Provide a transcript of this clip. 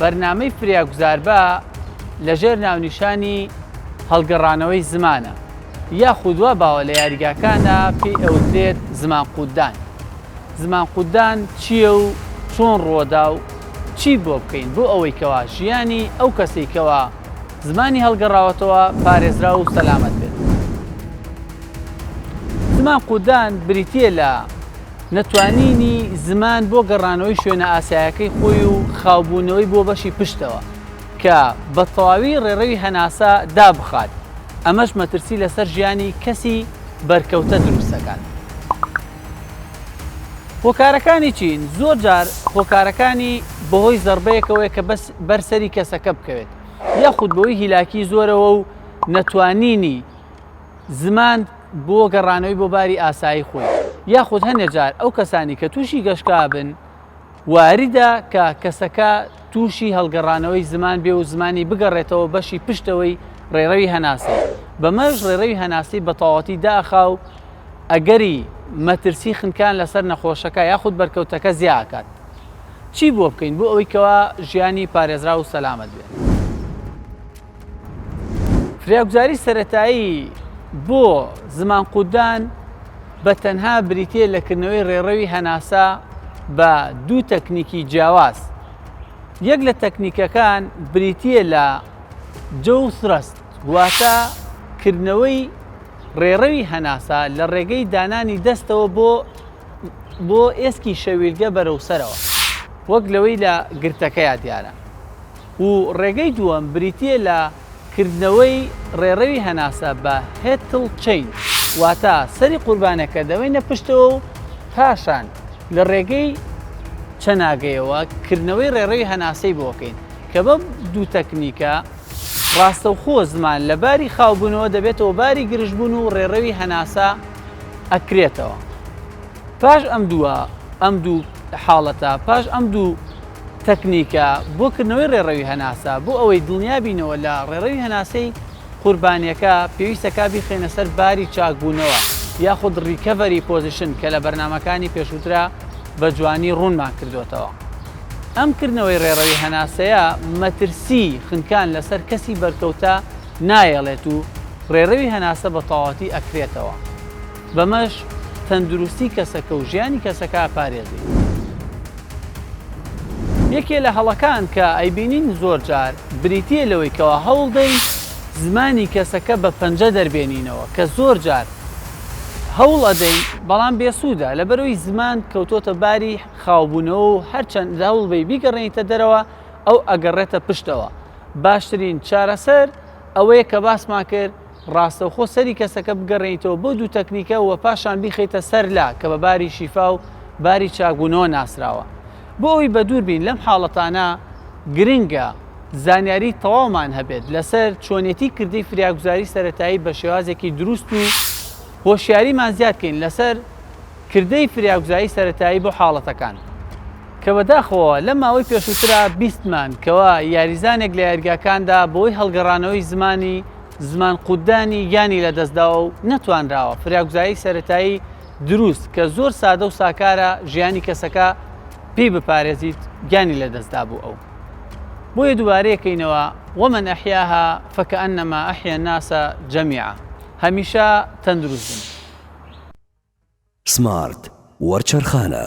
بەرنامەی فریاگوزاربە لەژێر ناونیشانی هەڵگەڕانەوەی زمانە یاخود وا باوە لە یاریگاکانە پێی ئەوترێت زمان قوتدان زمان قوتدان چییە و چۆن ڕووەدا و چی بۆ بکەین بۆ ئەوەی کەوا ژیانی ئەو کەسەی کەوا زمانی هەڵگەڕاوەتەوە پارێزرا و سەلامەت بێت زمان قوتدان بریتە لە نەتوانینی زمان بۆ گەڕانەوەی شوێنە ئاسایەکەی خۆی و خاوبوونەوەی بۆ بەشی پشتەوە کە بە تەواوی ڕێڕەوی هەناسە دابخات، ئەمەش مەترسی لەسەر ژیانی کەسی بەرکەوتە دروست دەکات. هۆکارەکانی چین؟ زۆر جار هۆکارەکانی بەهۆی زەڕبەیەکەوەیە کە بەر سەری کەسەکە بکەوێت، یاخود بەوەی هیلاکی زۆرەوە و نەتوانینی زمان، بۆ گەڕانەوەی بۆ باری ئاسایی خۆی، یاخود هەنێ جار ئەو کەسانی کە تووشی گەشکا بن واریدە کە کەسەکە تووشی هەڵگەڕانەوەی زمان بێ و زمانی بگەڕێتەوە بەشی پشتەوەی ڕێڕەوی هەناسەی، بەمەش ڕێڕەوی هەناسەی بە تەواوەتی داخا و ئەگەری مەترسی خنکان لەسەر نەخۆشەکە یاخود بەرکەوتەکە زیا ئەکات. چی بۆ بکەین بۆ ئەوەی کەوا ژیانی پارێزراو و سەلامەت بێت؟ فریاگوزاری سەرەتایی بۆ زمانقوودان بە تەنها بریتییە لە کردنەوەی ڕێڕەوی هەناسە بە دوو تەکنیکی جیاواز یەک لە تەکنیکەکان بریتییە لە جەو سرەست واتە کردنەوەی ڕێڕەوی هەناسە لە ڕێگەی دانانی دەستەوە بۆ بۆ ئێسکی شەویلگە بەرەو سەرەوە وەک لەوەی لە گرتەکەیا دیارە و ڕێگەی دووەم بریتییە لە کردنەوەی ڕێڕەوی هەناسە بە هێتڵ چەین واتە سەری قوربانەکە دەوەینە پشتەوە و پاشان لە ڕێگەی چەناگەیەوە کردنەوەی ڕێڕەوی هەناسەی بۆکەین کە بەم دوو تەکنیکە ڕاستەوخۆ زمان لە باری خاوبوونەوە دەبێتەوە باری گرژبوون و ڕێڕەوی هەناسە ئەکرێتەوە پاش ئەم دووە ئەم دوو حاڵەتە پاش ئەم دوو تەکنیکە بۆ کردنەوەی ڕێڕەوی هەناسە، بۆ ئەوەی دڵنیابینەوە لە ڕێڕەوی هەناسەی قوربانیەکە، پێویستە کا بیخەینە سەر باری چاکبوونەوە یاخود ڕیکەڤەری پۆزیشن کە لە بەرنامەکانی پێشووترا بە جوانی ڕوونمان کردۆتەوە. ئەم کردنەوەی ڕێڕەوی هەناسەیە مەترسی خنکان لەسەر کەسی بەرکەوتە نایەڵێت و ڕێڕەوی هەناسە بە تەواوەتی ئەکرێتەوە. بەمەش تەندروستی کەسەکە و ژیانی کەسەکە ئەپارێزین. یەکێ لە هەڵەکان کە ئەیبینین زۆر جار بریتییە لەوەی کەوا هەوڵ دەین زمانی کەسەکە بە پەنجە دەربێنینەوە کە زۆر جار هەوڵ ئەدەین بەڵام بێسوودە لەبەرەوەی زمان کەوتۆتە باری خاوبوونەوە و هەرچەند هەوڵ بەی بیگەڕێنیتە دەرەوە ئەو ئەگەڕێتە پشتەوە باشترین چارەسەر ئەوەیە کە باسمان کرد ڕاستەوخۆ سەری کەسەکە بگەڕێنیتەوە بۆ دوو تەکنیکە و پاشان بیخەیتە سەر لا کە بە باری شیفا و باری چاکبوونەوە ناسراوە بۆ ئەوی بەدوور بین لەم حاڵەتانە گرنگە زانیاری تەواومان هەبێت لەسەر چۆنێتی کردی فریاگوزاری سەتایی بە شێوازێکی دروست و هۆشیاریمان زیادکەین لەسەر کردەی فریاگوزایی سەتایی بۆ حاڵەتەکان. کە بەداخەوە لەم ماوەی پێشووترا بیستمان کەوا یاریزانێک لە یاریگاکاندا بەوەی هەڵگەڕانەوەی زمانی زمان قوتدانی گیانی لەدەستداوە و نەتوانراوە فریاگوزایی سەرەتایی دروست کە زۆر سادە و ساکارە ژیانی کەسەکە پێی بپارێزیت گیانی لەدەستدابوو ئەو بۆیە دووبارەیەکەینەوە ومن ئەحیاها فکەئەنەما ئەحیا الناس جەمیعا هەمیشە تەندروست بن. سمارت وەرچەرخانە.